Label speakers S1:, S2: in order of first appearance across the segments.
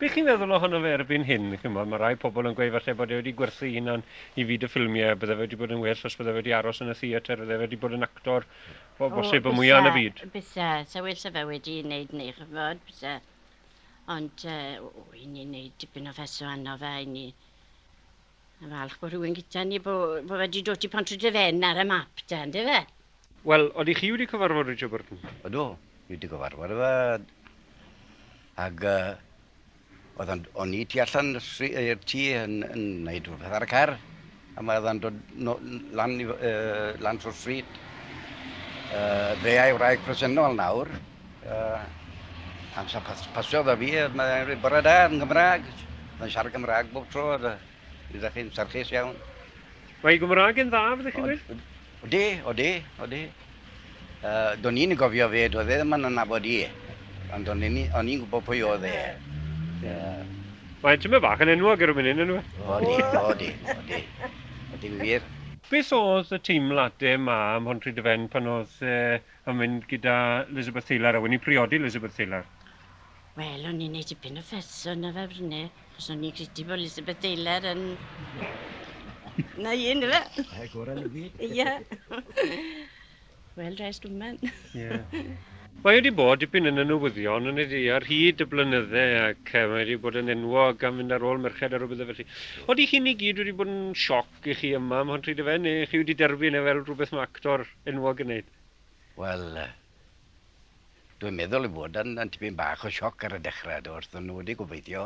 S1: Be chi'n feddwl ohono fe erbyn hyn? Chimod, mae rhai pobl yn gweud falle bod e wedi gwerthu ei hunan i fyd y ffilmiau, bydde fe wedi bod yn well os bydde fe wedi aros yn y theatr, fydde fe wedi bod yn actor o bosib y mwya yn y byd. O, byse, byse, sa well 'da
S2: fe wedi wneud ni, chimod, byse. Ond, uh, o, i ni wneud dipyn o feso arno fe, i ni Falch bod rhywun gyda ni bo, bo wedi dod i Pontrydyfen ar y map da, ynddo fe? Wel, odych chi
S1: wedi cyfarfod Richard Burton? Ydw, fi wedi
S3: cyfarfod efe. Ac uh, oedd o'n, o'n i tu allan i'r tŷ yn, yn neud rhywbeth ar y car. A mae oedd dod no, lan, uh, lan trwy'r stryd. Uh, fe a'i wraig presennol nawr. Yy amser pas- pasio 'da fi yy mae e'n rhoi bore da yn Gymra'g. Mae'n siarad Cymra'g bob tro a da- fi 'da chi'n serchus iawn. Mae
S1: Gymra'g yn dda fyddech chi'n gweud? Odi, odi, odi. Uh,
S3: do'n i'n gofio fe, doedd e ddim yn anabod i. Ond o'n i'n o'n i'n gwybod pwy oedd e. Uh,
S1: Mae tyma bach yn enwog ar y munud yn nhw. Odi, odi, odi.
S3: Odi'n wir. Beth oedd y
S1: teimlade 'ma ym Mhontry-dy-fen pan oedd e yn mynd gyda Elizabeth Taylor a wedi priodi Elizabeth Taylor? Wel,
S2: o'n i'n neud dipyn o ffeso yna fe fryne, cos o'n i'n credu bod Elizabeth Taylor yn... Na i, yna fe? Ie, gorau yn y byd.
S3: Ie.
S2: Wel, rest woman. Ie.
S1: Mae wedi bod dipyn yn y newyddion yn ei ar hyd y blynydde ac mae wedi bod yn enwog am fynd ar ôl merched a rhywbeth felly. Oeddi chi'n i gyd wedi bod yn sioc Dych chi yma am Hon Rhydyfen neu chi wedi derbyn e fel rhywbeth mae actor enwog yn wneud? Wel,
S3: dwi'n meddwl ei fod yn tipyn bach o sioc ar y dechrau, do, wrth iddyn nhw wedi gobeithio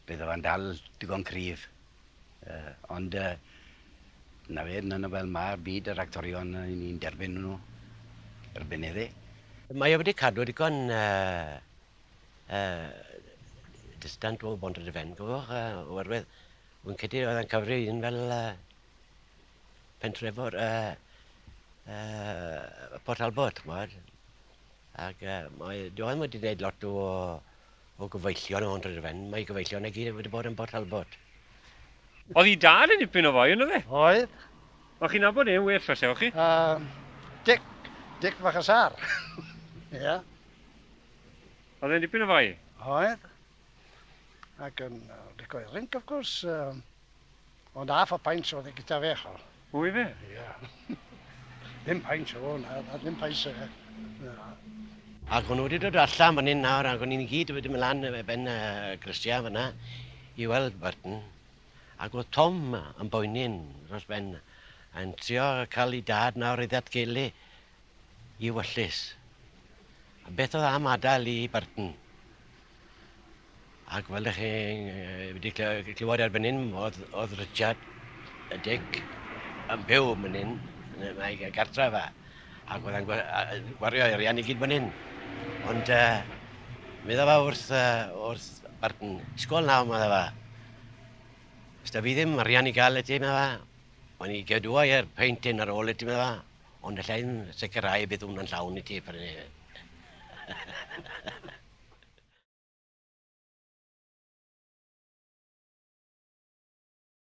S3: bydd e fe'n dal digon cryf. Ond 'na fe, dyna fel mae byd yr actorion, ry'n ni'n derbyn nhw erbyn heddi'. Mae e wedi
S4: cadw digon yy distant o Bont y Defen, gofiwch, yy, oherwydd wy'n credu oedd e'n cyfri un fel yy, pentrefor yy, yy, Port Talbot, chmod. Ac yy, mae Joel wedi gwneud lot o, o gyfeillion o Bont y Defen. Mae gyfeillion i gyd wedi bod yn Port Talbot.
S1: Oedd i dad yn dipyn o foi, ynddo fe? Oedd.
S5: Wel, chi'n nabod
S1: e'n well, fasewch chi? Uh, Dic, Dic
S5: fach y sar. Ie. yeah.
S1: Oedd e'n dipyn o fai? Oedd.
S5: Ac yn lico i rinc, of gwrs. Um, ond half a pint oedd e gyda fe, chal. Wy fe? Ie. Yeah. ddim pint o hwn, a ddim pint o fe. Na.
S4: Ac o'n nhw wedi dod allan fan hyn nawr, ac o'n i'n gyd wedi mynd lan y ben y grisiau fyna i weld Burton. Ac oedd Tom yn boeni'n dros ben, yn trio cael ei dad nawr i ddatgelu Iwyllys. A beth oedd am adael i Burton? Ac fel ydych chi'n wedi clywed erbyn hyn, oedd, oedd Richard y Dic yn byw yn hyn, yn ei gartref e, ac oedd e'n gwario arian i gyd fan hyn. Ond uh, meddwl fa wrth, uh, wrth Burton, sgol nawr, meddwl fa. Os da fi ddim arian i gael y ti, meddwl fa, o'n i gadwa i'r peintyn ar ôl y ti, meddwl fa. Ond alla i'm sicrhau y bydd hwn yn llawn i ti pan ni...